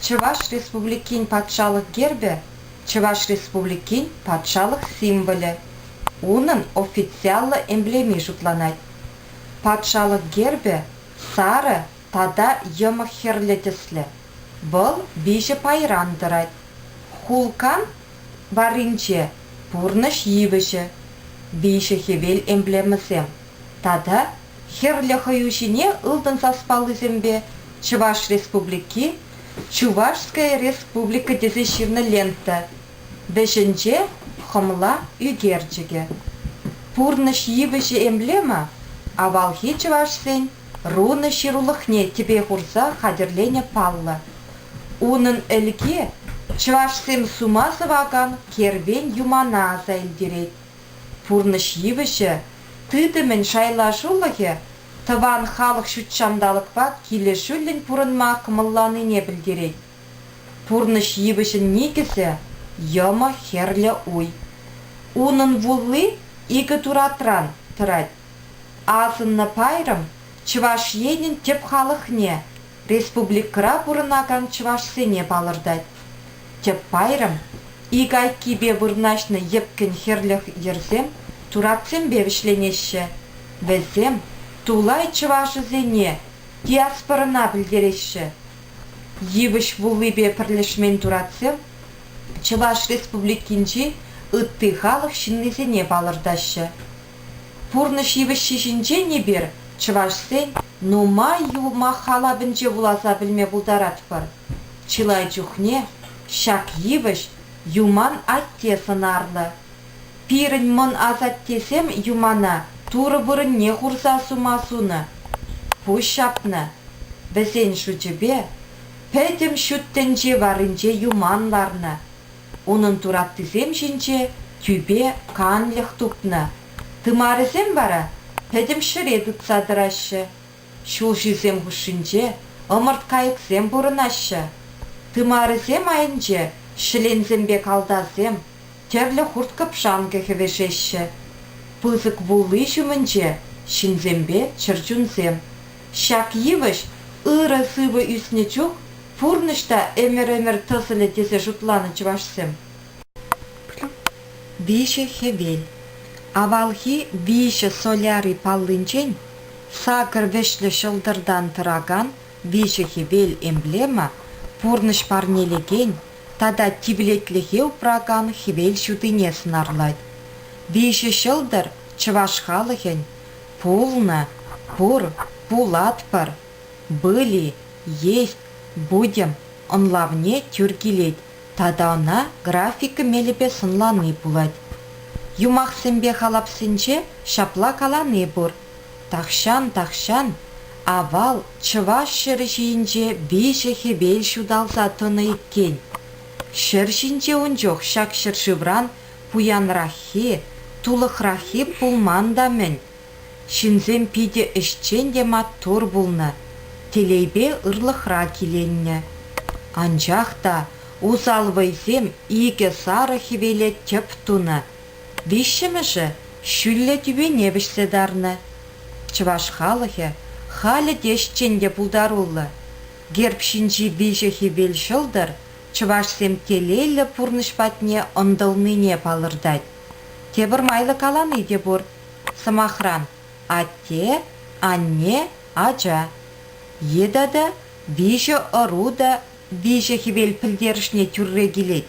Чӑваш Республикин патшалӑх гербӗ, Чӑваш Республикин патшалӑх символӗ. Унӑн официаллӑ эмблеми шутланать. Патшалӑх гербӗ сарӑ тата йӑмӑх хӗрлӗ тӗслӗ. Вӑл виҫӗ пайран тӑрать. Хулкан варринче пурнӑҫ йывӑҫӗ, виҫӗ хӗвел эмблемӑсем. тата хӗрлӗ хӑю ҫине ылтӑн саспаллисемпе Чӑваш Республики, Чувашская Республика тесе ҫырнӑ лента вӗҫӗнче хӑмла ӳкерчӗкӗ. Пурнӑҫ йывӑҫӗ эмблема авалхи чӑвашсен рунӑ ҫырулӑхне тӗпе хурса хатӗрленӗ паллӑ. Унӑн ӗлки чӑвашсем сума сӑвакан кервен юмана аса илтерет. Пурнӑҫ йывӑҫӗ тытӑмӗн шайлашулӑхӗ тӑван халӑх ҫутҫанталӑкпа килӗшӳллӗн пурӑнма кӑмӑлланине пӗлтерет. Пурнӑҫ йывӑҫӗн никӗсӗ, йӑмӑ хӗрлӗ уй. Унӑн вулли икӗ туратран тӑрать. Асӑннӑ пайрӑм Чӑваш Енӗн тӗп халӑхне Республикӑра пурӑнакан чӑвашсене палӑртать. Тӗп пайрӑм, ик айккипе вырнаҫнӑ йӗпкӗн хӗрлӗх йӗрсем туратсемпе вӗҫленеҫҫӗ. Вӗсем тулай чӑвашӗсене диаспорӑна пӗлтереҫҫӗ. Йывӑҫ вуллипе пӗрлешмен туратсем Чӑваш Республикинчи ытти халӑх ҫыннисене палӑртаҫҫӗ. Пурнӑҫ йывӑҫҫи ҫинчен эпир, чӑвашсен, нумай юмах халапӗнче вуласа пӗлме пултаратпӑр. Чылай чухне ҫак йывӑҫ Юман атте сӑнарлӑ. Пирӗн мӑн асаттесем Юмана турӑ вырӑнне хурса сума сунӑ. Пуҫ ҫапнӑ. Вӗсен шучӗпе, пӗтӗм ҫут тӗнче варринче юман ларнӑ. Унӑн тураптисем ҫинче тӳпе канлӗх тупнӑ. Тымарӗсем вара пӗтӗм ҫӗре тытса тӑраҫҫӗ. Ҫулҫисем хушшинче ӑмӑрт-кайӑксем пурӑнаҫҫӗ. Тымарӗсем айӗнче ҫӗленсемпе калтасем, тӗрлӗ хурт-кӑпшанкӑ хӗвӗшеҫҫӗ. Пысӑк вулли ҫумӗнче ҫынсемпе чӗрчунсем, Ҫак йывӑҫ ырӑ сывӑ ӳснӗ чух пурнӑҫ та ӗмӗр-ӗмӗр тӑсӑлӗ тесе шутланӑ чӑвашсем. Виҫӗ хӗвел, авалхи виҫӗ соляри паллинчен сакӑр вӗҫлӗ ҫӑлтӑртан тӑракан виҫӗ хӗвел эмблема пурнӑҫ парнелекен тата тивлетлӗхе упракан хӗвел ҫутине сӑнарлать. Виҫӗ ҫӑлтӑр чӑваш халӑхӗн Пулнӑ, пур, пулатпӑр, были, есть, будем ӑнлавне тӳр килет тата ӑна графика мелӗпе сӑнлани пулать. Юмахсемпе халапсенче ҫапла калани пур, тахҫан, тахҫан авал чӑваш ҫӗрӗ ҫийӗнче виҫӗ хӗвел ҫуталса тӑнӑ иккен. Ҫӗр ҫинче ун чух ҫак ҫӗршывран пуянраххи, тулӑхраххи пулман та-мӗн. Ҫынсем питӗ ӗҫчен те маттур пулнӑ, телейпе ырлӑхра киленнӗ. Анчах та усал вӑйсем икӗ сарӑ хӗвеле тӗп тунӑ. Виҫҫӗмӗшӗ ҫӳллӗ тӳпене вӗҫсе тарнӑ. Чӑваш халӑхӗ халӗ те ӗҫчен те пултаруллӑ. Герб ҫинчи виҫӗ хӗвел ҫӑлтӑр чӑвашсем телейлӗ пурнӑҫ патне ӑнтӑлнине палӑртать. Тепӗр майлӑ калани те пур, сӑмахран, атте, анне, ача. Е тата виҫӗ ӑру та виҫӗ хӗвел пӗлтерӗшне тӳрре килет.